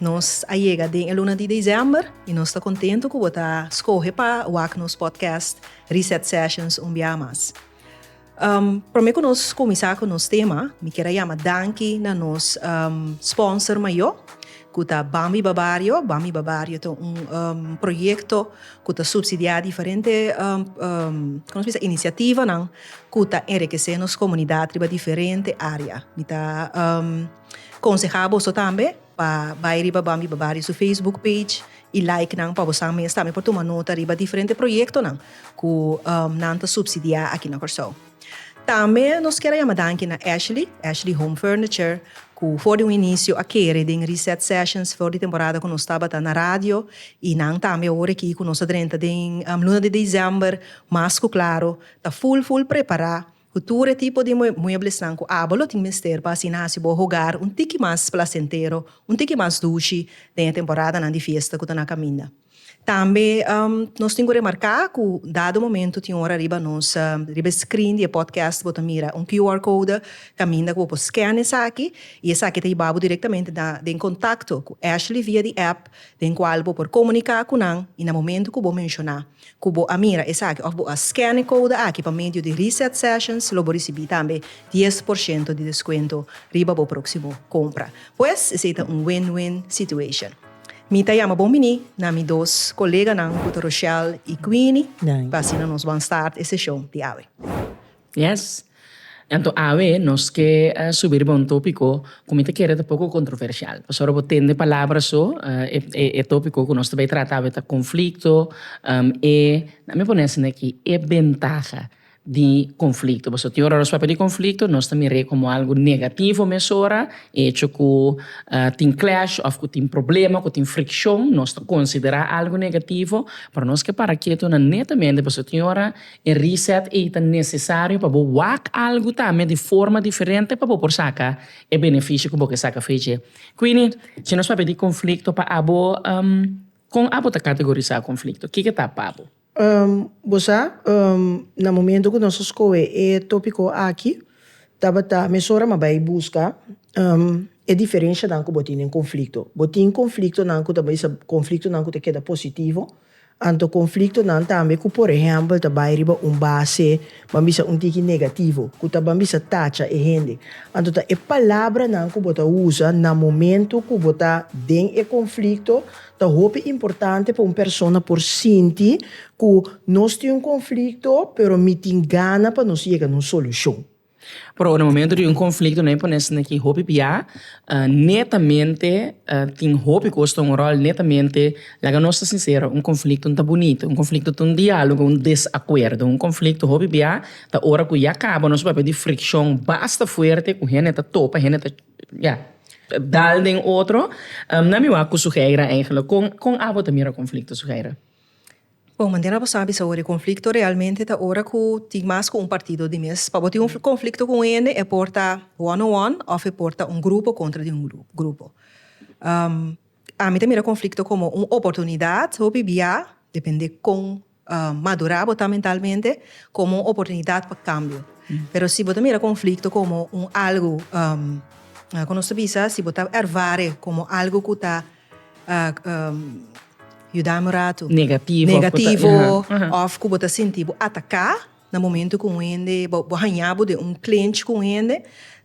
Nos a yega den e luna di December i nos ta kontentu ku bo ta skohe pa wak nos podcast Reset Sessions un biaha mas. Promé ku nos kuminsá ku nos tema, mi kier a yama danki na nos sponsor mayó, ku ta Bambi Babario. Bambi Babario ta un proyekto ku ta supsidiá diferente kòm se dice inisiativanan ku ta enrikesé nos komunidat riba diferente área. Mi ta. Konseha boso tambe pa bai riba Bambi Babario su Facebook page i like nan pa boso mes tambe por tuma nota riba diferente proyektonan ku nan ta supsidiá aki na Kòrsou. Tambe nos kier a yama danki na Ashley, Ashley Home Furniture, ku for di un inisio a kere den Reset Sessions for di temporada ku nos tabata na radio i nan tambe awor aki ku nos ta drenta den luna di December mas ku klaro ta ful ful prepará. Ku tur e tipo di mueblesnan ku abo lo tin mester pa asina hasi bo hogar un tiki mas plasentero, un tiki mas dushi den e temporadanan di fiesta ku ta na kaminda. Tambe nos tin ku remarká ku dado momentu tin ora riba nos riba e screen di e podcast bo ta mira un QR code kaminda ku bo por scan esaki i esaki ta yeba bo direktamente na den kontakto ku Ashley via di app den kual bo por komuniká ku nan i na momentu ku bo menshoná Ku bo a mira esaki òf bo a scan e kouda aki pa medio di Reset Sessions lo bo risibí tambe dies por shento di deskuento riba bo próksimo kompra. Pues esei ta un win-win situation. Mi ta yama bon biní na mi dos koleganan ku ta Rochelle i Queenie pa asina nos ban start e seshon di awe. Yes. Anto awe nos ke subi riba un topiko ku mi ta kere ta poko kontroversial. Pasobra ora bo tende palabra so e topiko ku nos ta bai trata awe ta konflikto e dame pone asina aki e bentaha di konflikto. Pasobra tin ora nos papia di konflikto nos ta mire komo algu negativo mesora e hecho ku tin clash of ku tin problema ku tin frikshon nos ta konsidera algu negativo pero nos ke para keto nan netamente pasobra tin ora. E reset ei ta necesario pa bo wak algo tambe di forma diferente pa bo por saca e beneficio cu bo ke saca fei dje. Quindi, si nos papia di conflicto pa abo, con abo ta categoriza conflicto? Kiko ta pa bo? Bo sa, na momento cu nos a scoe e topico aki, tabata mesora ma bay busca e diferencianan cu bo tin den conflicto. Bo tin conflictonan cu ta bisa conflictonan cu ta keda positivo, Anto konfliktonan tambe ku por ehèmpel ta bai riba un base ban bisa un tiki negativo, ku ta ban bisa tacha e hende. Anto ta e palabranan ku bo ta usa na momentu ku bo ta den e konflikto ta hopi importante pa un persona por sinti ku nos tin un konflikto pero mi tin gana pa nos yega na un solushon. Pero na momento di un conflicto no hay por nesina ki hopi pia netamente tin hopi cos ta un rol netamente laga nos ta sincero un conflicto no ta bonito un conflicto ta un dialogo un desacuerdo un conflicto hopi bia ta ora cu ya caba nos papia di friccion basta fuerte cu hende ta topa hende ta ya dal den otro nan mi wou cu Suheira con abo ta mira conflicto Suheira? Bon, manera na bo sabi es awor e conflicto realmente ta ora cu tin mas cu un partido di mes. Pa bo tin un conflicto cu un hende e por ta one on one of e por ta un grupo contra di un grupo. Ami ta mira conflicto como un oportunidad hopi bia, depende con madura bo ta mentalmente, como un oportunidad pa cambio. Pero si bo ta mira conflicto como un algo cu nos ta bisa si bo ta ervare como algo cu ta. yuda mi ratu negativo of ku bo ta sinti bo ataka na momentu ku un hende bo haña bo den un klench ku un hende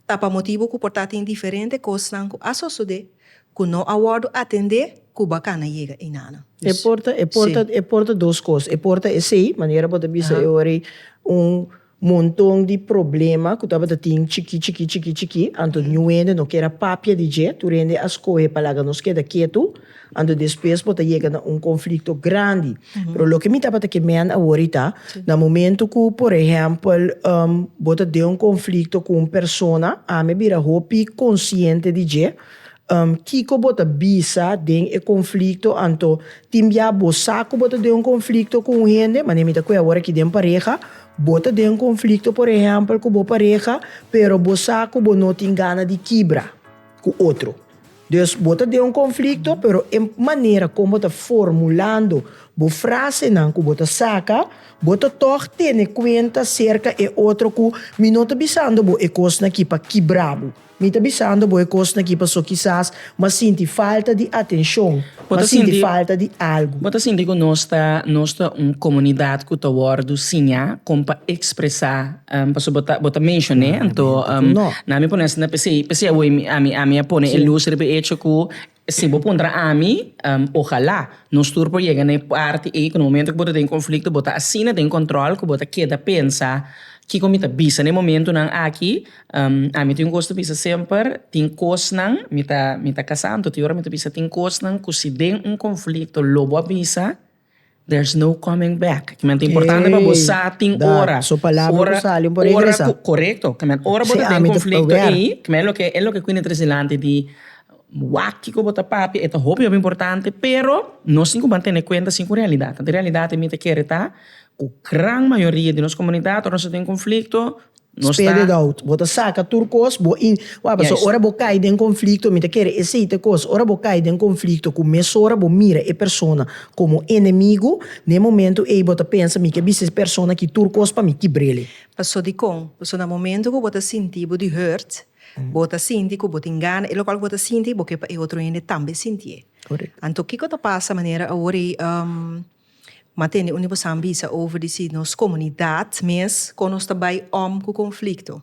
ta pa motibu ku por ta tin diferente kosnan ku a sosodé ku no a wòrdu atendé ku bo a kana yega einanan. E por ta e por ta e por ta dos kos e por ta esei manera bo ta bisa e ora ei un. Monton di problema cu tabata tin chiki chiki chiki chiki, anto New hende no kier a papia di dje, tur hende a scoge pa laga nos keda ketu, anto despues por ta yega na un conflicto grandi. Pero loke mi tabata ke men awor ta, na momento cu por ehempel bo ta den un conflicto cu un persona, ami a bira hopi consciente di dje, Kiko bo ta bisa den e konflikto? Anto, tin bia bo sa ku bo ta den un konflikto ku un hende? Manera mi ta kue awor aki den pareha, bo ta den konflikto por ehèmpel ku bo pareha, pero bo sa ku bo no tin gana di kibra ku otro. Dus bo ta den un konflikto, pero e manera kon bo ta formulando bo frasenan ku bo ta saka, bo ta tòg tene kuenta aserka e otro ku mi no ta bisando bo e kosnan aki pa kibra bo. Mi ta bisando bo e kosnan aki paso kisas bo a sinti falta di atenshon, bo a sinti falta di algu. Bo ta sinti ku nos ta nos ta un komunidat ku ta wòrdu siñá kon pa ekspresá, paso bo ta bo ta menshoné, anto na mi pone asina p'esei p'esei awor ami ami a pone e lus riba e echo ku Si bo puntra ami, ojalá nos tur por yega na e parti ei ku na momentu ku bo ta den konflikto bo ta asina den kòntròl ku bo ta keda pensa, Kiko mi ta bisa na e momentunan aki? Ami tin un kos ta bisa semper, tin kosnan, mi ta mi ta kasá anto tin ora mi ta bisa tin kosnan ku si den un konflikto lo bo a bisa, There's no coming back. Kieman ta importante pa bo sa tin ora. Su palabra ku sali un por regresa. Korekto. Kieman ora bo ta den konflikto ei, kieman e loke e loke ku inintris dilanti di wak kiko bo ta papia e ta hopi hopi importante pero nos tin ku ban tene kuenta si ku realidat. Anto e realidat ei mi ta kere ta ku gran mayoria di nos komunidat ora nos ta den konflikto Nos ta. Spit it out. Bo ta saka tur kos, bo in. Wak, pasobra ora bo kai den konflikto, mi ta kere esei ta e kos. Ora bo kai den konflikto ku mesora bo mira e persona komo enemigu, na e momentu ei bo ta pensa, mi ke bisa es persona aki tur kos pa mi, kibr'el. Paso dikon? Paso na momentu ku bo ta sinti bo di hurt, bo ta sinti ku bo tin gana e lokal ku bo ta sinti, bo ke pa e otro hende tambe sintié. Anto kiko ta pasa manera awor ei? Ma tene uni bo san bisa over di si nos komunidat mes kon nos ta bai om ku konflikto.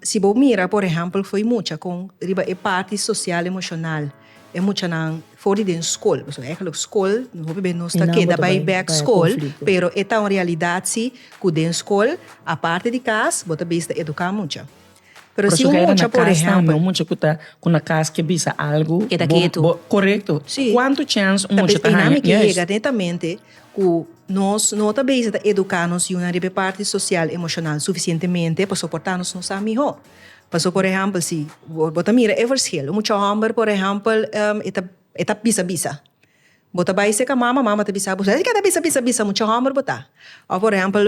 Si bo mira por ehèmpel fo'i mucha kon riba e parti sosial emoshonal e muchanan for di den skol, pasobra e kalo skol hopi bes nos ta keda bai bèk skol pero e ta un realidat si ku den skol aparte di kas bo ta bisa ta eduká mucha. Pero si un mucha por ehempel. Un mucha cu na cas ke bisa algo. Keda ketu. Corecto. Si. Cuanto chance un mucha ta haya. Tal bes eynan e ke yega netamente cu nos no ta bezig ta educa nos yiunan riba e parti social, emocional suficientemente pasobra por ta nos nusa miho. Pasobra por ehempel si bo ta mira e verschil. Un mucha homber por ehempel e ta bisa bisa. Bo ta bai seka mama, mama ta bisa bo, Esaki ke ta bisa bisa bisa mucha hòmber bo ta? Òf por ehèmpel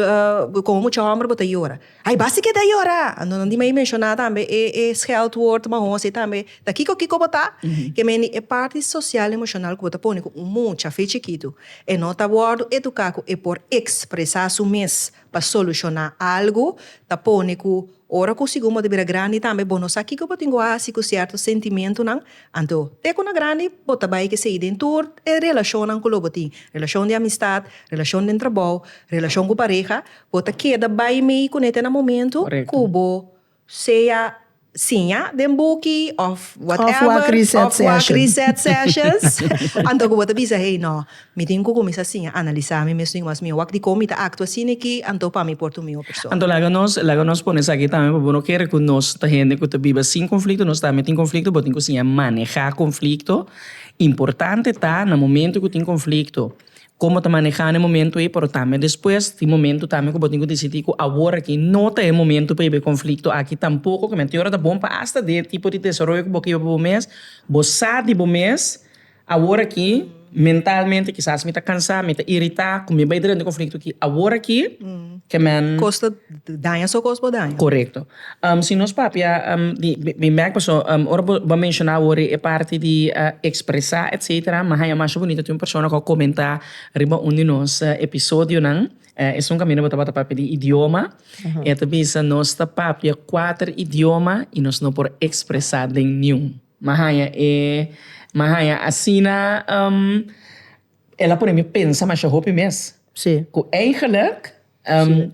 komo mucha hòmber bo ta yora? Ai basta keda yora! Anto di mi a menshoná tambe e e sgèldwoord mahón si tambe ta kiko kiko bo ta? Ke mende e parti sosial emoshonal ku bo ta pone ku un mucha afe chikitu e no ta wòrdu eduká ku e por ekspresá su mes pa solushoná algu ta pone ku ora ku sigun bo ta bira grandi tambe bo no sa kiko bo tin ku hasi ku sierto sentimentunan. Anto, te ku na grandi bo ta bai ke sigui den tur e relashonnan ku lo bo tin, relashon di amistat, relashon den trabou, relashon ku pareha, bo ta keda bai mei kuné te na momentu ku bo sea siña den buki of whatever of wak reset sessions anto ku bo ta bisa hey no mi tin ku kuminsá siña analisá mi mes rimas mi wak dikon mi ta aktua asina aki anto pa mi por tur mi un persona. Anto laga nos laga nos pone esaki tambe pa bo no kere ku nos ta hende ku ta biba sin konflikto nos tambe tin konflikto bo tin ku siña manehá konflikto importante ta na momento ku tin konflikto komo ta manehá na e momentu ei, pero tambe despues tin momentu tambe ku bo tin ku disidí ku awor aki no ta e momentu pa hib'é konflikto aki tampoko ke mente ora ta bon pa asta den e tipo di desaroyo ku bo keba pa bo mes, bo sa di bo mes awor aki mentalmente kisas mi ta kansá, mi ta iritá ku mi bai dren di konflikto aki awor aki kemen koreto. Si nos papia di bimèk pasobra ora bo a menshona wòrdu e parti di ekspresá etcetera mi haña masha bunito tin un persona ku a komentá riba un di nos episodionan esun kaminda bo tabata papia di idioma i a ta bisa nos ta papia kuater idioma i nos no por ekspresá den niun mi a haña e mi a haña asina el a pone mi pensa masha hopi mes ku eigelijk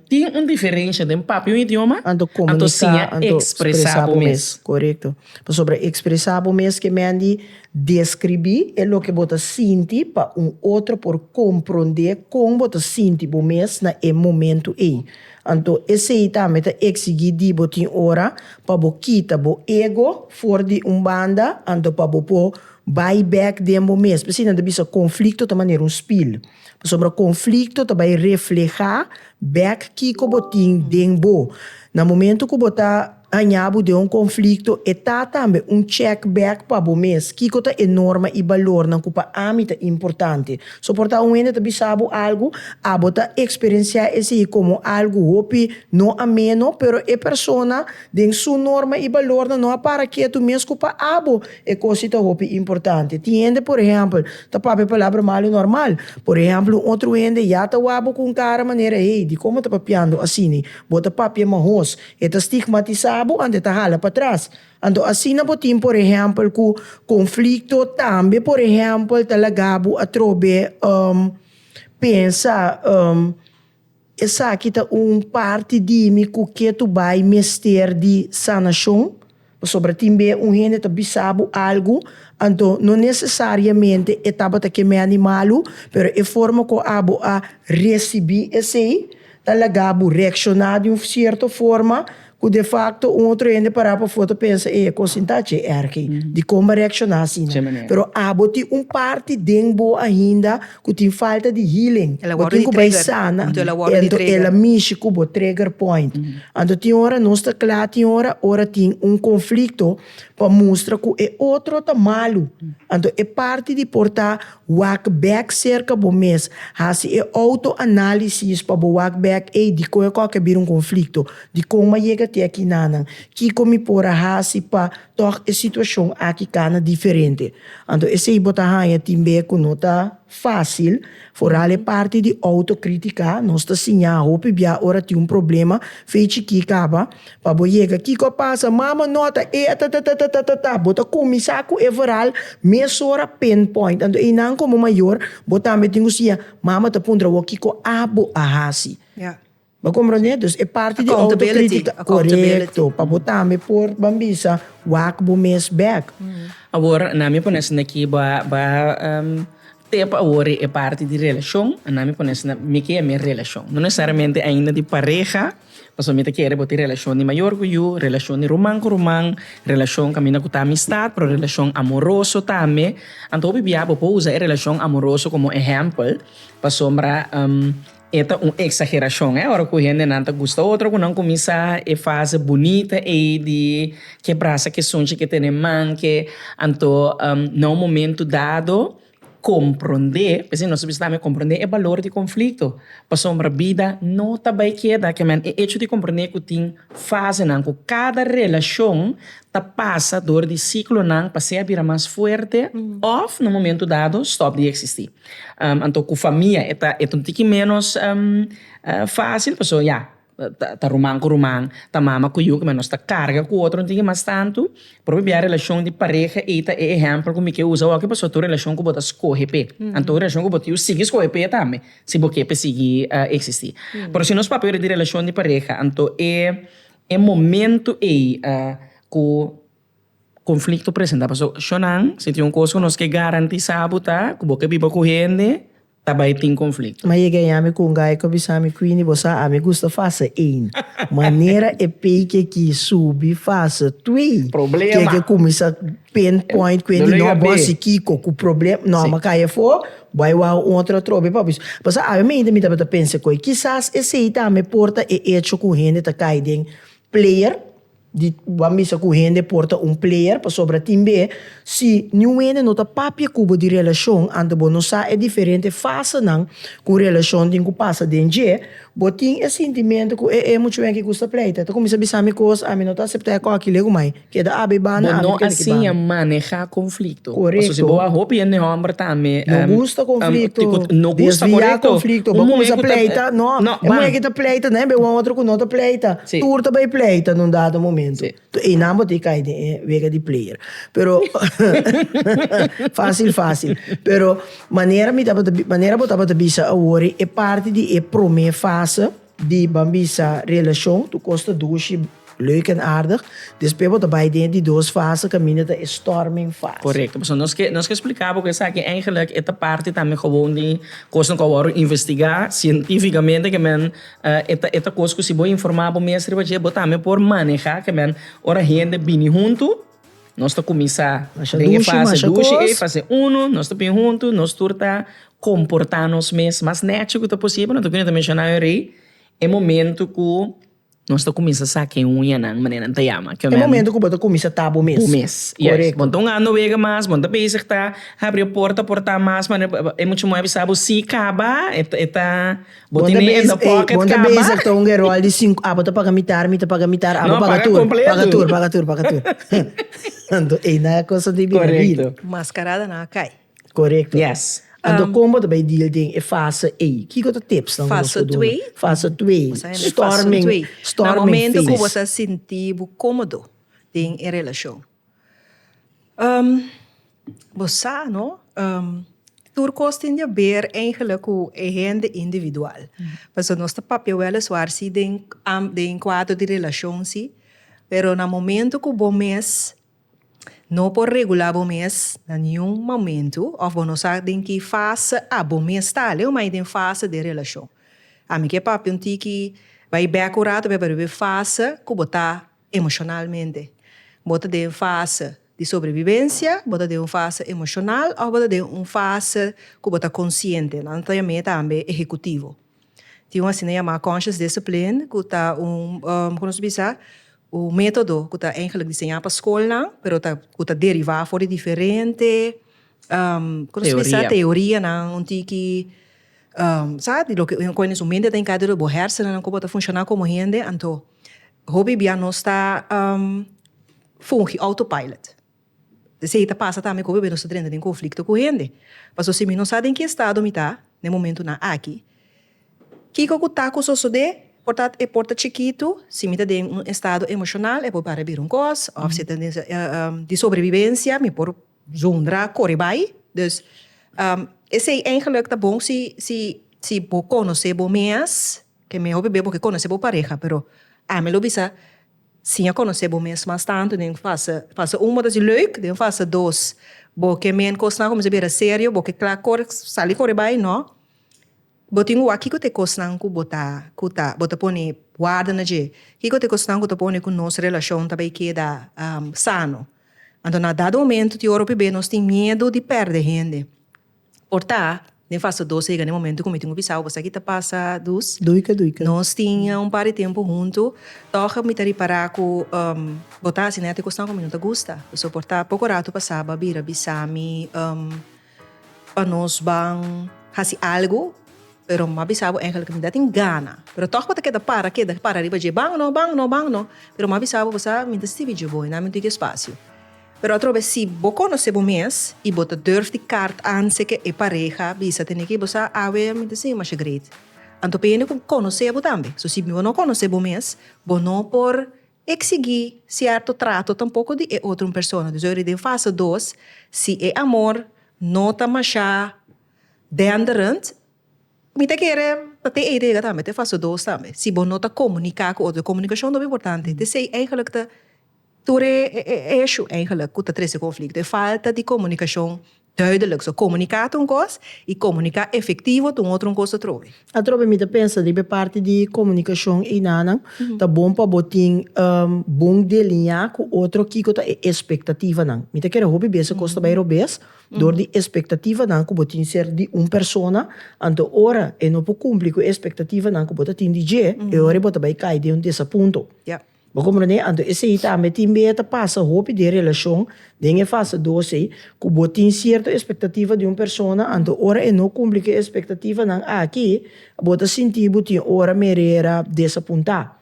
Tin un diferensha den papia un idioma, anto komunika, anto ekspresá bo mes. Korekto. Pasobra ekspresá bo mes ke mendi deskribí e loke bo ta sinti pa un otro por komprondé kon bo ta sinti bo mes na e momentu ei. Anto esei tambe ta eksigí di bo tin ora pa bo kita bo ego for di un banda anto pa bo por bai bèk den bo mes. Asina nan ta bisa konflikto ta manera un spil. Pasobra konflikto ta bai reflehá bèk kiko bo tin den bo. Na momentu ku bo ta haña bo den un konflikto, e ta tambe un chèk bèk pa bo mes, Kiko ta e norma i balornan ku pa ami ta importante? So por ta un hende ta bisa bo algu, abo ta eksperensiá esei komo algu hopi no ameno, pero e persona den su norma i balornan no a para ketu mes ku pa abo. E cos si ta hopi importante. Tin hende por ehempel ta papia palabra malo normal. Por ehempel un otro hende ya ta wak bo cu un cara manera hey, di como ta papiando asini? Bo ta papia mahoos. E ta stigmatisa bo anto e ta hala patras. Anto asina bo tin por ehempel cu conflicto. Tambe por ehempel ta laga bo atrobe pensa. Esaki ta un parti di mi ku ke tu bai mester di sanashon? Pasobra tin b'e un hende ta bisa bo algu, anto no nesesariamente e tabata ke meandi malu, pero e forma ku abo a risibi esei ta laga bo reakshoná di un sierto forma. Cu de facto un otro hende para pafo ta pensa, ey, e cos tin ta dje ergi, dicon bo a reacciona asina? Pero abo tin un parti den bo ainda cu tin falta di healing, bo tin cu bay sana, anto el a mishi cu bo trigger point. Anto tin ora nos ta cla, tin ora, ora tin un conflicto pa mustra cu e otro ta malu, anto e parti di por ta Wak bek serka bo mes. Hasi e outo-análisis pa bo wak bek, Ey, dikon e kòke a bira un konflikto? Dikon m'a yega te aki nanan? Kiko mi por a hasi pa tòg e situashon aki kana diferente? Anto esei bo ta haña tin be ku no ta fásil. Foral e parti di outo-krítika, nos ta siña hopi bia ora tin un problema, fechi ki kaba. Pa bo yega kiko a pasa, mama nota e atatatatata, bo ta kuminsá ku e verhal mesora pinpoint. Anto einan komo mayor bo tambe tin ku siña mama ta puntra bo kiko abo a hasi. Bo komprende? Dus e parti di outokritikat, korekto, pa bo tambe por ban bisa wak bo mes bèk. Awor nan mi pone asina aki, bo a bo a tep awor e parti di relashon, nan mi pone asina, mi ke a mi relashon, no nesesariamente ainda di pareha. Pasobra mi ta kere bo tin relashon di mayor ku yu, relashon di ruman ku ruman, relashon kaminda ku ta amistat, pero relashon amoroso tambe. Anto hopi bia bo por usa e relashon amoroso komo ehèmpel, pasobra e ta un eksagerashon, eh, ora ku hendenan ta gusta otro ku nan kuminsá e fase bunita ei di ke brasa kesunchi ke tene manke, anto na un momentu dado, Komprondé, es i nos ta bisitá mi, komprondé e balor di konflikto, pasobra bida no ta bai keda ke men. E echo di komprondé ku tin fasenan ku kada relashon ta pasa dor di siklonan pa sea bira mas fuerte òf na un momentu dado stòp di eksistí. Anto ku famia e ta e ta un tiki ménos fásil pasobra ya. ta ruman ku ruman, ta mama ku yu, nos ta karga ku otro, no tin ki mas tantu. Propio bia relashon di pareha ei ta e ehèmpel ku mi ke usa aki pasobra ta un relashon ku bo ta skohe p'e. Anto un relashon ku bo ta yu sigui skohe p'e tambe si bo ke p'e sigui eksistí. Pero si nos papia yora di relashon di pareha anto e e momentu ei ku. Conflicto presenta paso shonnan si tin un cos cu nos ke garantisa bo ta cu bo ke biba cu hende ta bay tin conflicto. Ma yega yami cu un gay cu bisami Queenie bo sa ami gusta fase een manera e pey ke ki subi fase twee ke ke cuminsa pain point Queenie no bo si kico cu problem no ama caya fo bo a wou un otro atrobe pa bo pasa awe mi mi tabata pensa cu kizas esey tambe por ta e hecho cu hende ta cay den player. di bo bisa ku hende por ta un player pasobra tin be si niun hende no ta papia ku bo di relashon anto bo no sa e diferente fasenan ku relashon tin ku pasa den dje bo tin e sintimentu ku e e muchu aki gusta pleita ta kuminsa bisa mi kos ami no ta asepta e koki le ku mai keda abi i banda ami no keda ki banda. Maneha konflikto pasobra si bo a hopi hende hòmber tambe no gusta konflikto no gusta korekto un muhé ku ta pleita no e muhé ku ta pleita tambe bo otro ku no ta pleita. Tur ta bai pleita n'un dado momento. Toh einan bo ta e kai den e wega di player. Pero, fácil fácil. Pero manera mi tabata bi, manera bo tabata bisa awor e parti di e promé fase di ban bisa relashon, tur kos ta dushi leuk en aardig. Despues bo ta bai den e di dos fase kaminda ta e storming fase. Correcto. Pasobra nos ke nos ke spliká bo ku esaki eigenlijk e ta parti tambe gewoon di kosnan ku a wòrdu investigá sientífikamente ke men E ta kos ku si bo informá bo mes riba dje, bo tambe por manehá ke men. Ora hende bini huntu, nos ta kuminsá den e fase dushi ei, fase uno, nos ta bini huntu, nos tur ta komportá nos mes mas nechi ku ta posibel. Anto ku no ta menshoná awe rei, e momentu ku nos ta kuminsá sa ken uñanan, manera nan ta yama. E momentu ku bo ta kuminsá ta bo mes. Bo mes, yes. Bo ta un ando wega mas, bo ta bezig ta habri e porta, portá mas manera e muchu muhé a bisa bo si kaba, e ta. Bo tin mi in the pocket kaba. Bon ta bezig ta un gerol di sinku abo ta paga mitar mi ta paga mitar abo paga tur paga tur paga tur paga tur anto ei na e cosa di bida real mascarada na cay correcto anto con bo ta bay deal den e fase ey kico ta tips nan cu nos por duna fase twee storming storming phase na momento cu bo ta sinti bo comodo den e relacion. bo sa no tur kos tin di a ber eigenlik ku e hende individual pasobra nos ta papia weliswaar si den den kuadro di relashon si pero na momento ku bo mes no por regulá bo mes na niun momento of bo no sa den ki fase abo mes ta aleo mai den fase den relashon ami ke papia un tiki bai bek un rato p'e riba e fase ku bo ta Emoshonalmente. Bo ta den fase di sobrevivensia, bo ta den un fase emoshonal òf bo ta den un fase ku bo ta konsiente. Nan ta yam'é tambe ehekutivo. Tin un asina yamá conscious discipline ku ta un, kiko nos ta bisa? Un método ku ta eigelik diseñá pa skolnan, pero ta, ku ta derivá for di diferente, kiko nos ta bisa? Teorianan un tiki, sa, di loke, un kohe nes un mente ta enkaderá, bo hèrsennan, ku bo ta funshoná komo hende. Anto, Hopi bia nos ta fungi autopilot. Esei ta pasa tambe cu hopi bia nos ta drenta den conflicto cu hende. Pasobra si mi no sa den ki estado mi ta na e momentunan aki, kico cu ta cu sosode? Por ta e por ta chikitu, si mi ta den un estado emocional e por para bira un cos of si ta den di sobrevivencia mi por Zondra kore bai. Dus esei eigenlik ta bon si si si bo konosé bo mes, ke mihó bebé bo ke konosé bo pareha, pero ami lo bisa siña konosé bo mes mas tantu den fase fase un bo ta haci leuk, den fase dos bo ke men kosnan a kuminsá bira serio, bo ke kla kore sali kore bai, nò. Bo tin wak kiko te kosnan ku bo ta ku ta bo ta pone warda na dje? Kiko te kosnan ku ta pone ku nos relashon ta bai keda sano? Anto na dado momentu di ora p'e nos tin miedu di pèrdè hende. Por ta den fase dos a yega na e momentu ku mi tin ku bisa bo, esaki ta pasa dus? Duika duika. Nos tin ya un par di tempu huntu, tòg mi ta ripará ku bo ta hasi nèt e kosnan ku mi no ta gusta. Pasobra por ta poko ratu pasaba a bira bisa mi. Pa nos ban hasi algu, pero m'a bisa bo Angel ku mi ta tin gana, pero tòg bo ta keda para keda para riba dje ban no ban no ban no, pero m'a bisa bo bo sa mi ta stibi dje bo i nan mi ntui ki espasio. Pero atrobe si bo konosé bo mes i bo ta durf di kart anse ke e pareha bisa tene ki bo sa awe mi ta sinti masha great. Anto pende ku konosé bo tambe. So si bo no konosé bo mes bo no por Eksigi sierto trato tampoko di e otro un persona. Dus oir den fase dos, si e amor no ta masha denderend, mi ta kere ta te ei ta yega tambe te fase dos tambe. Si bo no ta komunika ku otro, komunikashon ta hopi importante. It esei eigelik ta tur e eshu eigelik ku ta trese konflikto, e falta di komunikashon Duidelijk, so comunica ta un cos y comunica efectivo ta un otro un cos atrobe. Atrobe mi ta pensa riba e parti di comunicacion einanan, ta bon pa bo tin bon deliña cu otro kico ta e expectativanan. Mi ta kere hopi bes e cos ta bay robes door di expectativanan cu bo tin ser di un persona, anto ora e no por cumpli cu e expectativanan cu bo ta tin di dje, e ora e bo ta bay cay den un desapunto. Bo komprendé? Anto esei tambe tin bia ta pasa hopi den relashon, den e fase dos ei, ku bo tin sierto espektativa di un persona, anto ora e no kumpli ku e espektativanan aki, bo ta sinti bo tin ora merera desapuntá.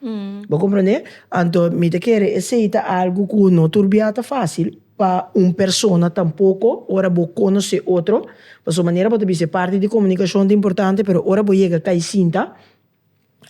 Bo komprendé? Anto mi ta kere esei ta algu ku no tur bia ta fásil pa un persona tampoko ora bo konosé otro, pasobra manera bo ta bisa e parti di komunikashon ta importante, pero ora bo yega kai sinta,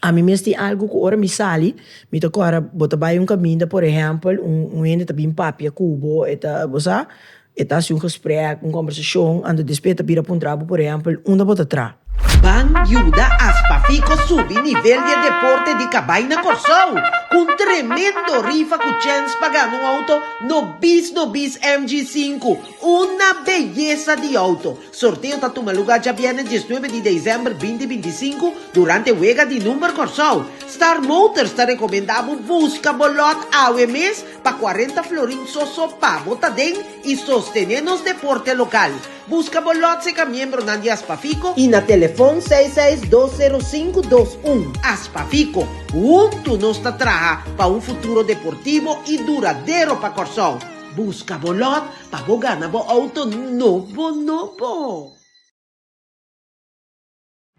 Ami mes tin algu cu ora mi sali, mi ta cora, bo ta bay un caminda, por ehempel, un hende ta bin papia cu bo, e ta, bo sa, e ta haci un gesprek, un conversacion, anto despues e ta bira puntra bo, por ehempel, unda bo ta traha? Ban yuda Aspafico subi nivel di e deporte di cabai na Corsou, cu un tremendo rifa cu chens pa gana un auto no bis no bis MG5, una beyesa di auto. Sorteo ta tuma luga djabièrnè diesnuebe di deizember binti bintisinku durante Wega di Number Kòrsou. Star Motors ta rekomendá bo buska bo lòt awe mes pa kuarenta florin sòsò pa bo ta den i sostené nos deporte lokal. Buska bo lòt serka miembronan di Aspafico i na telefòn seis seis dos sero sinku dos un. Aspafico, huntu nos ta traha pa un futuro deportivo i duradero pa Kòrsou. Buska bo lòt pa bo gana bo auto nobo nobo.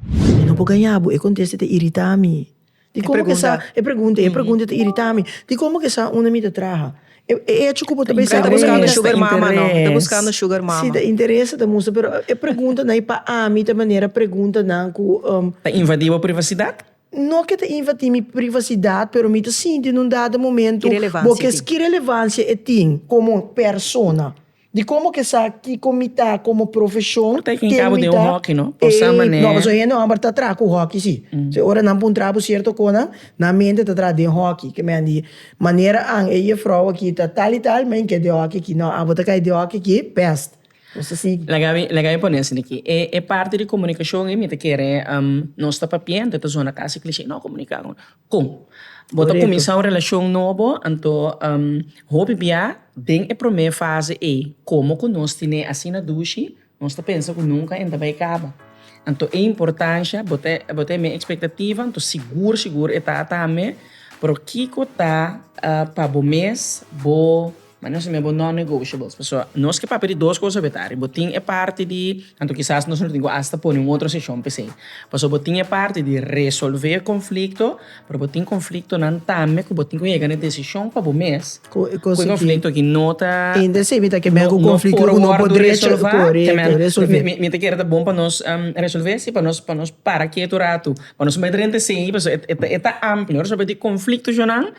Mi no por gaña bo, e contesta ta irita mi. Di como ke sa, e pregunta, e pregunta ta irita mi, di como ke sa unda mi ta traha? E hecho ku bo ta bisa interes, ta buscando sugar mama no, ta buscando sugar mama. Si ta interes ta mustra pero e preguntanan pa ami ta manera preguntanan ku, um. Ta invadi bo privacidad? No ke ta invatí mi privasidat, pero mi ta sinti nun dado momentu Ki relevansia bo e ke tin? ki relevansia e tin komo persona, di komo ke sa kiko mi ta komo profeshon, Por ta e ken kabo den un hoki, no? Por sa manera. Ey, no, pasobra hende hòmber ta traha ku hoki, sí. P'esei ora nan puntra bo sierto konan, nan mente ta traha den hoki. Ke men di, manera an e yefrou aki ta tal i tal, men ke den hoki aki. No, abo ta kai den hoki aki, pèst. Laga mi pone asina aki, e parti di komunikashon ei mi ta kere nos ta papia anto e ta zona kasi klishé. No komunika ku nan. Kon? Bo ta kuminsá un relashon nobo, anto hopi bia den e promé fase ei, komo ku nos tine asina dushi, nos ta pensa ku nunka en ta bai kaba. Anto e importansha, bo ta bo ta mi ekspektativa, anto sigur sigur e ta tambe, pero kiko ta pa bo mes bo. Ma nos a mi abo non-negotiables, pasobra nos ke papia di dos kos a beta, riba bo tin e parti di, anto kisas nos lo tin ku asta pone un otro seshon p'esei, pasobra bo tin e parti di resolve e konflikto, pero bo tin konfliktonan tambe ku bo tin ku yega na e desishon pa bo mes ku e konflikto aki no ta Inter si, mi ta ke ben ku konflikto ku no por derecho korekto resolve. Mi ta kere ta bon pa nos resolve si pa nos pa nos para ketu un ratu pa nos mester renta esei pasobra e ta amplio, nos a bata di konfliktonan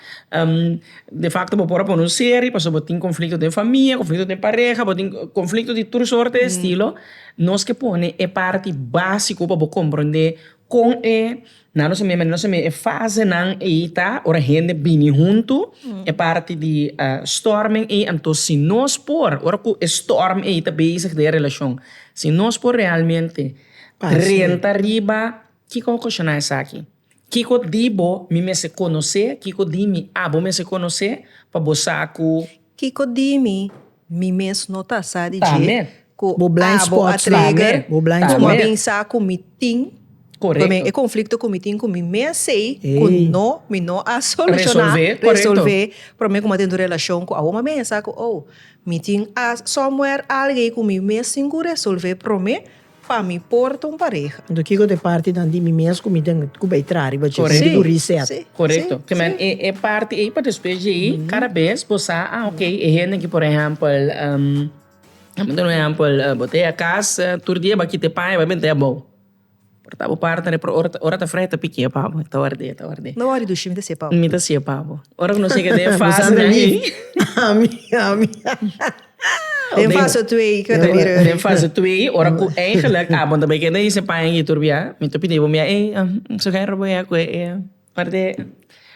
De facto bo por a pone un seri pasobra bo tin conflicto den famia, conflicto den pareha, bo tin conflicto di tur soorte e estilo, nos ke pone e parti básico pa bo comprende con e na nos a mey manera nos a mey e fasenan ei ta ora hende bini hunto e parti di storming ei anto si nos por ora cu e storm ei ta bezig den e relacion si nos por realmente renta riba kico ocashona esaki. Kiko di bo mi mester konosé? Kiko di mi abo mester konosé pa bo sa ku. Kiko di mi mi mes no ta sa di dje ku abo a trigger ku mi a bin sa ku mi tin pa mi e konflikto ku mi tin ku mi mesei ku no mi no a solushoná, resolve, promé ku mi a tende un relashon ku awor mi a bin a sa ku oh mi tin somewhere algo ei ku mi mes tin ku resolve promé. Pa mi porta un pareha. Anto kiko ta e partinan di mi mes ku mi den ku bai traha riba dje ku mi ku reset? Korekto. Kila e parti ei pa despues dje ei kada bes bo sa a ok e hende ki por ehèmpel a mi ta duna un ehèmpel bo ta ya kasa tur dia bo a kita e paña bo a benta abou por ta bo parti nan ora ta frehe ta pikia pa bo ta ward'e ta ward'e. No wori dushi mi ta siye pa bo. Mi ta siye pa bo ora ku no segue den e fase nan ei. Ami ami. Den fase twee cu ta bira. Den fase twee ora cu eigenlijk abo ta bay kende hise paña y turbia mi ta pidi bo mira ey su guerra bo ya cu e ey parti e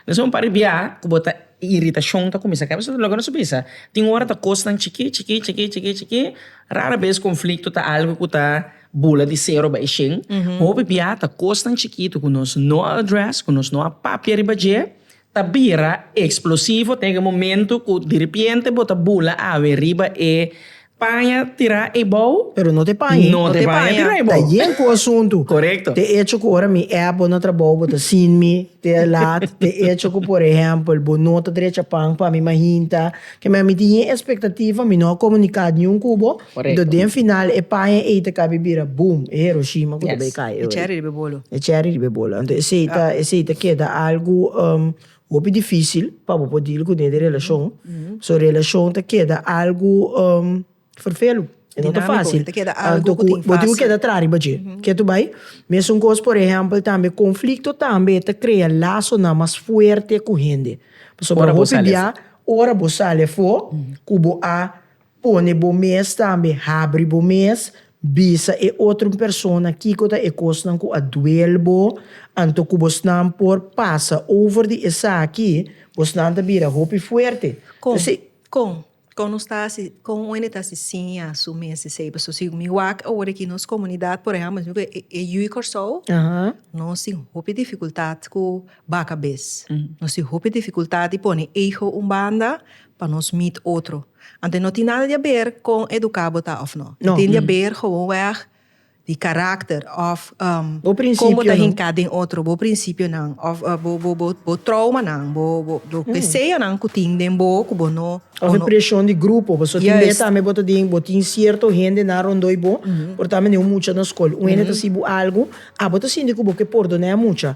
esaki un par di bia cu bo ta iritacion ta cuminsa kende pasobra loke nos a bisa tin ora ta cosnan chiki chiki chiki chiki chiki rara bes conflicto ta algo cu ta bula di cero bay shen hopi bia ta cosnan chikitu cu nos no a address cu nos no a papia riba dje ta bira explosivo ten e momento cu diripiente bo ta bula awe riba e paña tira eybou Pero no te paña no te paña tira eybou ta yen cu asunto corecto te echo cu ora mi app bo na trabou bo ta sin mi te laat te echo cu por ehempel bo no ta drecha pan pa mi ma hinta Kema mi tin e expectativa, mi no a comunica niun cu bo, entos den final e paña ey ta cabi bira boom, e Hiroshima cu ta bay cay ey. E cherry riba e bolo. E cherry riba e bolo. Entos esey ta, esey ta keda algo hopi dificil pa bo por deal cu den de relacion. So relacion ta keda algo. Ferfelu. E no ta fásil. Anto ku bo tin ku keda traha riba dje. Ke ta bai? Mesun kos por ehèmpel tambe konflikto tambe ta krea lasonan mas fuerte ku hende. Pasobra hopi bia ora bo sali afó ku bo a pone bo mes tambe habri bo mes, bisa e otro persona kiko ta e kosnan ku a duel bo, anto ku bosnan por pasa over di esaki, bosnan ta bira hopi fuerte. Kon? Kon nos ta hasi kon un hende ta hasi sin ya su mes di seiba so si mi wak awor aki nos komunidat por ehèmpel mesmu ku e yu di Kòrsou nos tin hopi difikultat ku baka bes nos tin hopi difikultat di pone ego un banda pa nos mit otro anto no tin nada di aber kon eduká bo ta òf nò tin di aber hou wèg di karakter òf bo prinsipionan kon bo ta hinká den otro bo prinsipionan òf bo tròumanan bo deseonan ku tin den bo ku bo no òf e preshon di grupo pasobra tin dia tambe bo ta den bo tin sierto hende nan rondoi bo por tambe den un mucha na skol un hende ta hasi bo algu a bo ta sinti ku bo ke pordoná e mucha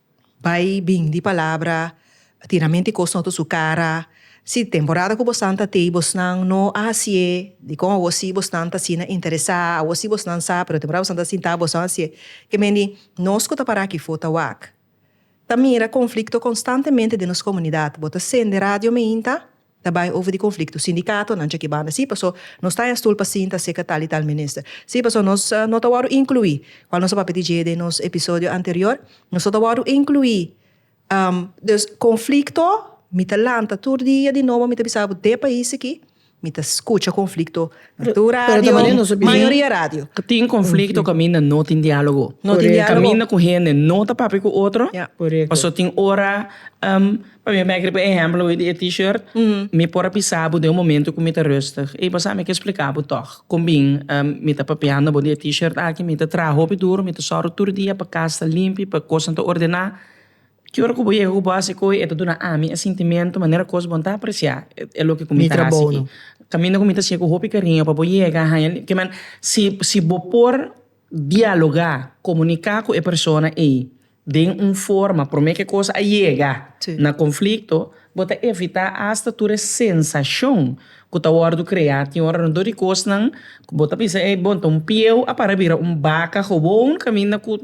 Bai bin di palabra, tinamenti kos no ta su kara. Si di temporada ku bosnan ta tei bosnan no a hasié dikon awor si bosnan ta asina interesá, awor si bosnan sa pero temporada bosnan ta sintá bosnan hasié. Ke mende nos ku ta pará aki for ta wak ta mira konflikto konstantemente den nos komunidat. Bo ta sende radio meinta Ta bai over di conflicto sindicato nan dje ki banda si paso nos ta en stoel pa sinta acerca tal y tal minister si paso nos no ta wordo inclui cual nos a papia di dje den nos episodio anterior nos no ta wordo inclui dus conflicto mi ta lanta tur dia di nobo mi ta bisa bo de pais aki mi ta scucha conflicto na tur radio mayoria radio tin conflicto caminda no tin dialogo caminda cu hende no ta papia cu otro paso tin ora. Pabia mi a kere por ehemplo hoy di e t-shirt, mi por a bisa bo den un momento ku mi ta rustig. Ey pasá mi ke splika bo tòg kon bin mi ta papiando bo di e t-shirt aki. Mi ta traha hopi duru, mi ta sòru tur dia pa kas ta limpi, pa kosnan ta ordená. Ki ora ku bo yega ku bo a hasi koe e ta duna ami e sintimentu manera kos bo no ta apresiá e loke ku mi ta hasi aki. Kaminda ku mi ta hasié ku hopi kariño pa bo yega a haña ke men si si bo por dialogá, komuniká ku e persona ey den un forma promé ke kos a yega na konflikto, bo ta evitá asta tur e sensashon ku ta wòrdu kreá. Tin ora dor di kosnan ku bo ta bisa, ey, bon ta un pieu a para bira un baka gewoon kaminda ku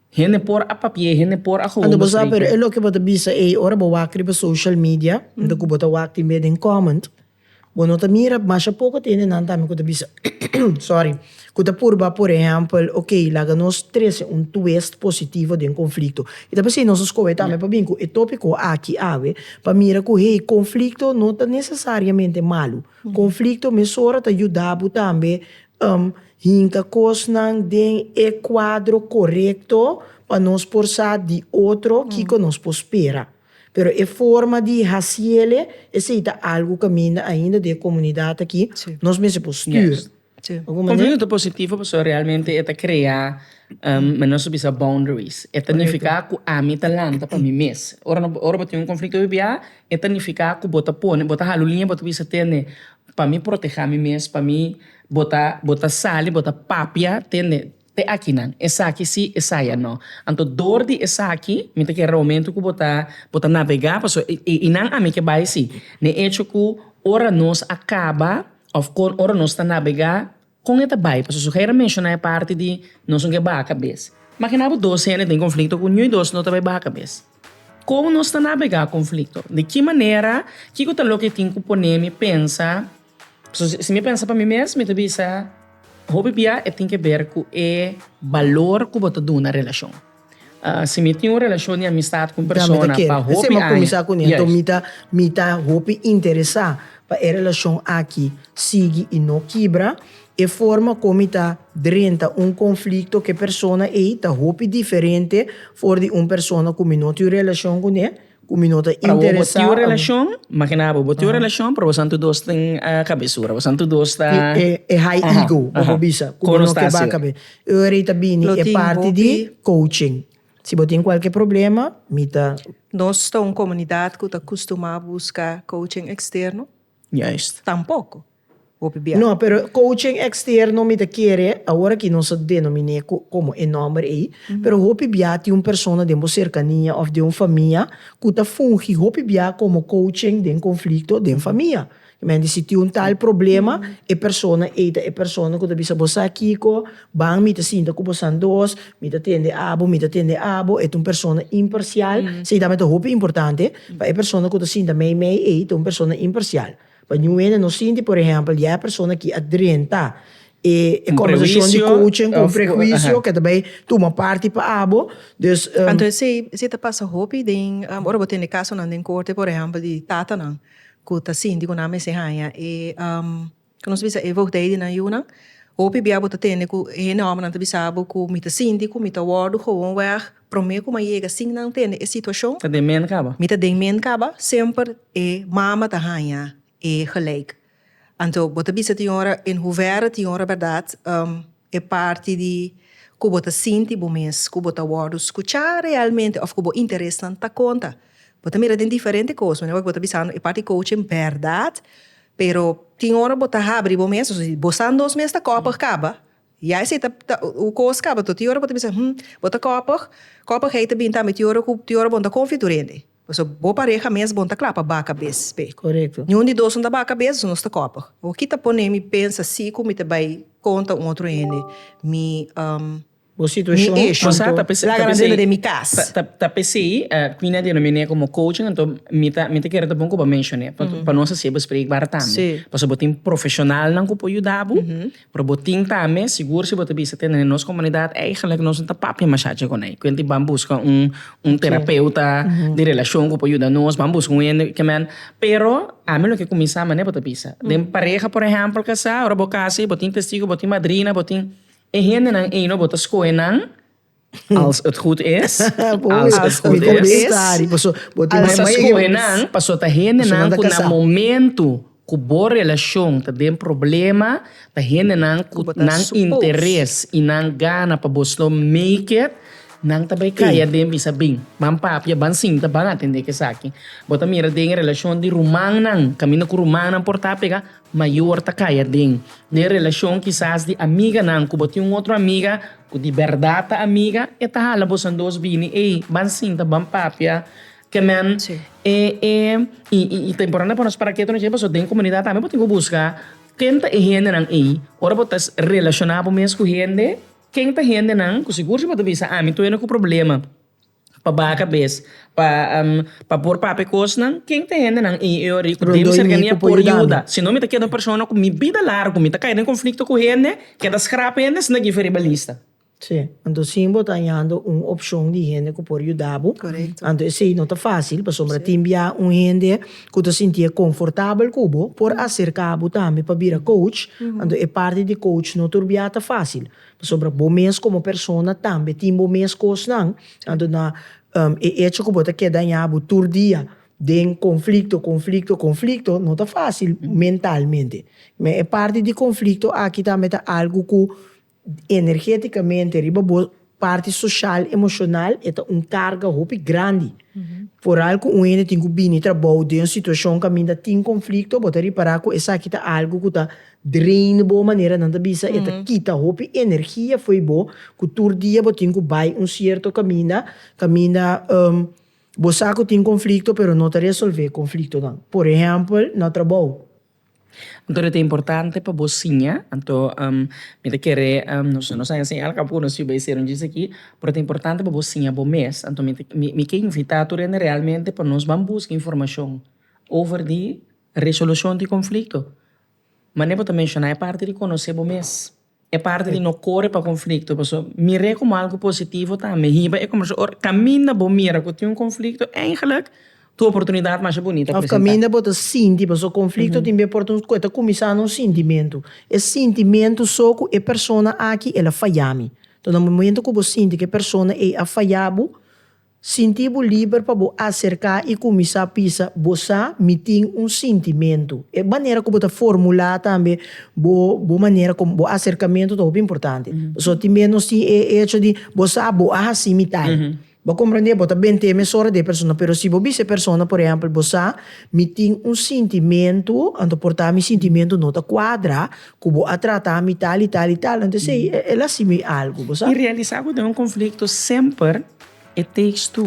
hende por a papi'é, hende por a gewoon bo sreik'é. Pero e loke bo ta bisa ey, ora bo wak riba social media, anto ku bo ta wak tin be den comment. Bo no ta mira masha poko ta hende nan tambe ku ta bisa sorry ku ta purba por ehèmpel ok laga nos trese un twist positivo den konflikto i ta p'esei nos a skohe tambe pa bin ku e topiko aki awe pa mira ku hey konflikto no ta nesesariamente malu konflikto mesora ta yuda bo tambe hinka kosnan den e kuadro korekto pa nos por sa di otro kiko nos por spera. Pero e forma di hasiel e, esei ta algu kaminda ainda den e komunidat aki, nos mester por stür. Konflikto ta positivo pasobra realmente e ta krea, men nos ta bisa boundaries, e ta nifiká ku ami ta lanta pa mi mes. Ora ora bo tin un konflikto biabiá e ta nifiká ku bo ta pone, bo ta hala un liña bo ta bisa tende, pa mi protehá mi mes, pa mi bo ta bo ta sali bo ta papia tende. Te akinan, esaki sí, esaya no. Anto dor di esaki, mi ta kere homentu ku bo ta bo ta nabegá paso i nan ami ke bai sí. N'e echo ku ora nos a kaba òf kon ora nos ta nabegá, kon e ta bai? Paso su hei a menshoná e parti di nos no ke baha kabes. Makina bo dos hende den konflikto ku ñui dos no ta bai baha kabes. Kon nos ta nabegá konflikto? Di ki manera? Kiko ta loke tin ku pone mi pensa? Si mi pensa pa mi mes mi ta bisa hopi bia e tin ke ber ku e balor ku bo ta duna relashon. Si mi tin un relashon di amistat ku un persona pa hopi aña, ya es. Mi ta hopi interesa pa e relashon aki sigui i no kibra. E forma kon mi ta drenta un konflikto ku e persona ei ta hopi diferente for di un persona ku mi no tin un relashon kuné. ku mi no ta interesá. Pra bo, bo tin un relashon, makina bo, bo tin un relashon pero bosato dos tin kabesura, bosato dos ta. E high ego ku bo bisa ku bo no ke baka be. E ora ei ta bini e parti di coaching. Si bo tin kualke problema mi ta. Nos ta un komunidat ku ta kustumá buska coaching eksterno? Juist. Tampoko. hopi bia. No, pero coaching externo mi ta kere awor aki nos a denominé cu como e nomber ei, pero hopi bia tin un persona den bo cercania of den un famia cu ta fungi hopi bia como coaching den conflicto den famia. Ki mente si tin un tal problema e persona ei ta e persona cu ta bisa bo sa kico, ban mi ta sinta cu bosan dos, mi ta tende abo, mi ta tende abo, e ta un persona imparcial, esei ta hopi importante pa e persona cu ta sinta mei mei ei ta un persona imparcial. Pa New Ene nos sinti, por ehempel, dje persona ki a drenta e konversashon di kouching ku un prehuisio ke ta bai tuma parti pa abo. Dus, Anto esei ta pasa hopi den ora bo tende kasonan den korte, por ehempel, di tatanan ku ta sinti ku nan mester haña e ke nos ta bisa e voogdij di nan yunan. Hopi bia bo ta tende ku e hende hòmbernan ta bisa bo ku mi ta sinti ku mi ta wòrdu gewoon wèg. Promé ku m'a yega sin nan tende e situashon. Ta den men kaba. Mi ta den men kaba, semper e mama ta haña e gelijk. Anto bo ta bisa tin ora en huvera tin ora bèrdat e parti di ku bo ta sinti bo mes ku bo ta wòrdu skuchá realmente òf ku bo interesnan ta konta. Bo ta mira den diferente kos, manera wak bo ta bisando e parti kouchen bèrdat, pero tin ora bo ta habri bo mes, bo san dos mes ta kòpig kaba, Ya esei ta ta un kos kaba to tin ora bo ta bisa hum bo ta kòpig kòpig hei ta bin tambe tin ora ku tin ora bon ta konfitur hende pasobra bo pareha mes bon ta kla pa ba kabes p'e niun di dos no ta ba kabes pasobra nos ta kòpig o ki ta pone mi pensa si ku mi ta bai konta un otro hende mi mi eshon to laga nan dentro di mi kas. Ta p'esei mi na denominé komo coaching anto mi ta mi ta kere ta bon ku bo menshoné pa nos hasibo sprek bar tambe pasobra bo tin profeshonalnan ku por yuda bo Pero bo tin tambe sigur si bo ta bisa tende den nos komunidat eigenlik nos no ta papia masha dje kuné. Kuenti ban buska un un terapeuta di relashon ku por yuda nos, ban buska un hende ke men. Pero ami lo ke kuminsá mané bo ta bisa. Den pareha por ehèmpel kasá, ora bo kasha i bo tin testigu, bo tin madrina, bo tin e hendenan ei no bo ta skohe nan. Als het goed is. Als het goed is. Nos a skohe nan pasobra ta hendenan ku na momentu ku bo relashon ta den problema, ta hendenan ku nan interes i nan gana pa bo slow make it, nan ta bai kaya den bisa bin, ban papia, ban sinta, ban atendé ku esaki. Bo ta mira den e relashon di rumannan, kaminda ku rumannan por ta apegá. mayor ta kaya den de relacion kisas di amiganan cu bo tin un otro amiga cu di berdad ta amiga e ta hala bosan dos bini ey ban sinta ban papia kemen e e y ta importante pa nos para keto nos dje pasobra den comunidad tambe bo tin cu busca ken ta e hendenan ey ora bo ta relaciona bo mes cu hende ken ta hendenan cu sigur si bo ta bisa ami tuwe no cu problema. Pa baka bes pa pa por papia cosnan ken ta hendenan y y ori den mi cercania por yuda si no mi ta keda un persona cu mi bida largo mi ta cay den conflicto cu hende keda schrap hende sna giv'e riba lista. Sí, anto sin bo ta hañando un opcion di hende cu por yuda bo, anto esey no ta facil pasobra tin bia un hende cu ta sintié confortabel cu bo por acerca bo tambe pa bira coach, anto e parti di coach no tur bia ta facil. Pasobra bo mes komo persona tambe tin bo mes kosnan, anto na e echo ku bo ta ke dañá bo tur dia den konflikto, konflikto, konflikto no ta fásil mentalmente. Me e parti di konflikto aki tambe ta algu ku energétikamente riba bo parti soshal, emoshonal e ta un karga hopi grandi. Foral ku un hende tin ku bini trabou den un situashon kaminda tin konflikto bo ta ripará ku esaki ta algu ku ta Drain bo, manera nan ta bisa, e ta kita hopi energia fo'i bo, ku tur dia bo tin ku bai un sierto kaminda, kaminda bo sa ku tin konflikto pero no ta resolvé konfliktonan. Por ehèmpel, na trabou. Anto lo ta importante pa bo siña, anto mi ta kere, nos nos a enseñal kap ku nos yu bai ser un djis aki, pero ta importante pa bo siña bo mes, anto mi ta mi ke invitá tur hende realmente pa nos ban buska informashon over di Resolushon di konflikto. Manera bo ta menshoná e parti di konosé bo mes, e parti di no kore pa konflikto, paso mir'é komo algu positivo tambe. Hiba e konversashon ora kaminda bo mira ku tin un konflikto, eingelik tur oportunidat masha bunita presentá. Òf kaminda bo ta sinti, paso konflikto tin b'e por e ta kuminsá na un sintimentu, e sintimentu so ku e persona aki el a fayami. Enton na momentu ku bo sinti ku e persona ei a fayá bo, Sinti bo liber pa bo aserká i kuminsá pisa Bo sa mi tin un sintimentu. E manera ku bo ta formulá tambe bo bo manera komo bo aserkamentu ta hopi importante. Pasobra tin bes nos tin e echo di bo sa bo a hasi mi tal. Bo a komprendé bo ta bent'é mesora di e persona pero si bo bisa e persona por ehèmpel bo sa mi tin un sintimentu anto por ta mi sintimentu no ta kuadra ku bo a tratá mi tal i tal i tal anto esei el a hasi mi algu bo sa. I realisá ku ten un konflikto semper. E tekstu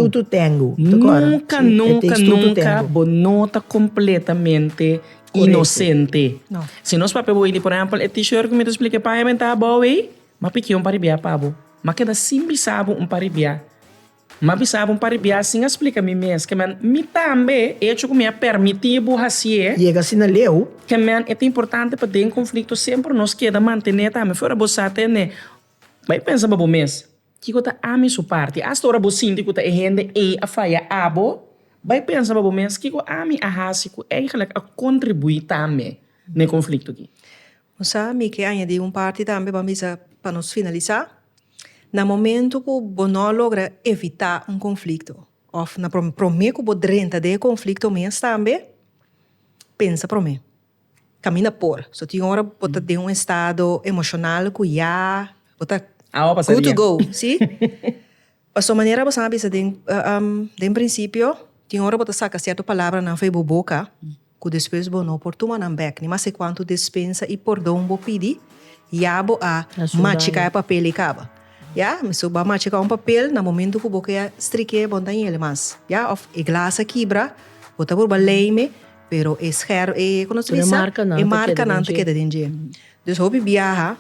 Nunka nunka nunka bo no ta kompletamente inosente. Si nos papia bo i di por ehèmpel e t-shirt ku mi ta splika e payamentá abou ei, m'a pikié un paribiá pa bo. M'a keda sin bisa bo un paribiá. M'a bisa bo un paribiá sin a splika mi mes. Ke men, mi tambe, e hecho ku mi a permití bo hasié, ke men e ta importante pa den konflikto semper nos keda mantené tambe. Fuera bo sa tende, bai pensa pa bo mes. Kiko ta ami su parti? Asta ora bo sinti ku ta e hende ei a faya abo, bai pensa pa bo mes, Kiko ami a hasi ku eigelik a kontribuí tambe na e konflikto aki? Bo sa, mi ke añadí un parti tambe, bo a bisa pa nos finalisá. Na momentu ku bo no a logra evitá un konflikto òf na promé ku bo drenta den e konflikto mes tambe, pensa promé. Camina por. So tin ora bo ta den un estado emocional cu ya bo ta good to go. Si? Pasobra manera bo sa a bisa den den principio tin ora bo ta saca cierto palabranan fo'i bo boca cu despues bo no por tuma nan bek. Ni mas e cuanto despensa y pordon bo pidi ya bo a machica e papel y caba. Ya? So bo a machica un papel na momento cu bo ke a strike bo no ta yele mas. Ya? Of e glas a kibra bo ta wurba leyme. Pero e sher e kono se disa e markanan te keda den dje dus hopi biaha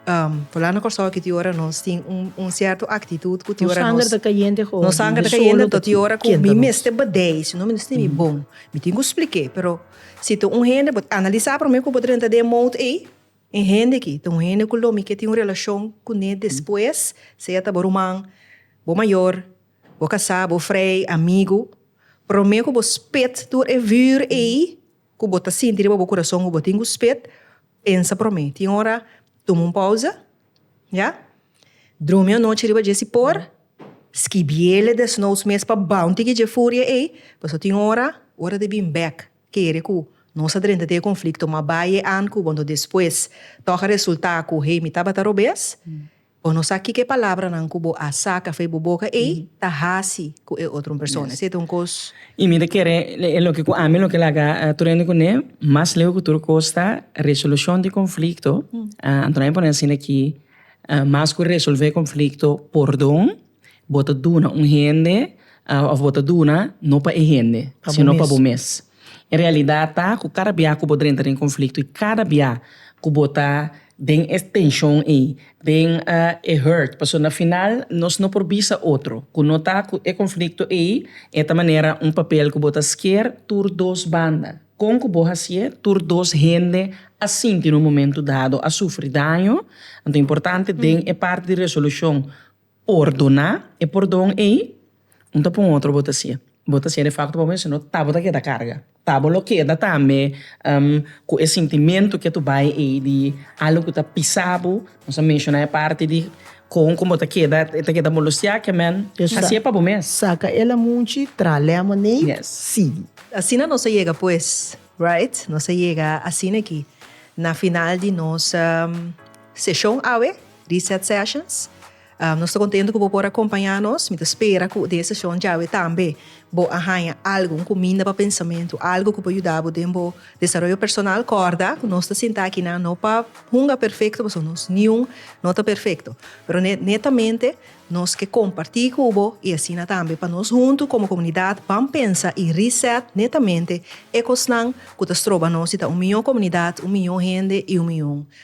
um fulano na Kòrsou aki ti ora nos tin un un sierto aktitut ku ti ora nos nos sanger ta kayente ho nos sanger ta kayente nto ti ora ku mi mester badei sino mi no sti mi bon mi tin ku splike pero si ta un hende bo ta analisa prome ku bo ta renta den mout ei e hende aki ta un hende ku lo mi ke tin un relashon kune despues sea ta bo ruman bo mayor Bo ka sa bo vrij, amigu, promé ku bo spit tur e vùùr ei ku bo ta sinti riba bo kurason ku bo tin ku spit? Pensa promé. Tin ora tuma un pousa, ya. Drumi anochi riba dje sipor. Skibiele desnous mes pa bounti ki dje furia ei. Pasobra tin ora, ora di bin bèk kere ku nos a drenta te e konflikto, ma bai e an ku bo anto despues tòg a resultá ku hei mi tabata robes. Bo no sa kiko e palabranan ku bo a saka for bo boka ei ta hasi ku e otro persona. Esei ta un kos. I mi ta kere e loke ku ami loke laga tur hende kuné mas leu ku tur kos ta resolushon di konflikto. Anto nan e pone asin aki, mas ku resolve konflikto, pordon. Bo ta duna un hende òf bo ta duna no pa e hende, sino pa bo mes. E realidat ta ku kada bia ku bo drenta den konflikto i kada bia ku bo ta den e tenshon ei, den e hurt, pasobra na final nos no por bisa otro ku no ta ku e konflikto ei, e ta manera un papel ku bo ta skier tur dos banda. Kon ku bo hasié tur dos hende a sinti na un momentu dado, a sufri daño? Anto importante den e parti di resolushon, por duna e pordon ei, un ta pon otro bo ta sia. Bo ta sia de facto pa bo misti no ta bo ta keda carga. Ta bo lo keda tambe cu e sintimentu ke tu bay ei di algo cu ta pisa bo. Nos a menciona e parti di con cu bo ta keda e ta keda molustiá ke men. Asi e pa bo mes. Saca el amunchi, traha lemonade, sigui. Asina nos a yega pues, right, nos a yega asina aki na final di nos seshon awe. Reset Sessions. Nos ta kontentu ku bo por a kompañá nos. Mi ta spera ku den e seshon djawe tambe bo a haña algu, un kuminda pa pensamentu, algu ku por yuda bo den bo desaroyo personal. Kòrda ku nos ta sintá akinan no pa hunga perfekto, pasobra nos niun no ta perfekto. Pero netamente nos ke kompartí ku bo i asina tambe pa nos huntu komo komunidat ban pensa i reset netamente e kosnan ku ta stroba nos di ta un mihó komunidat, un mihó hende i un mihó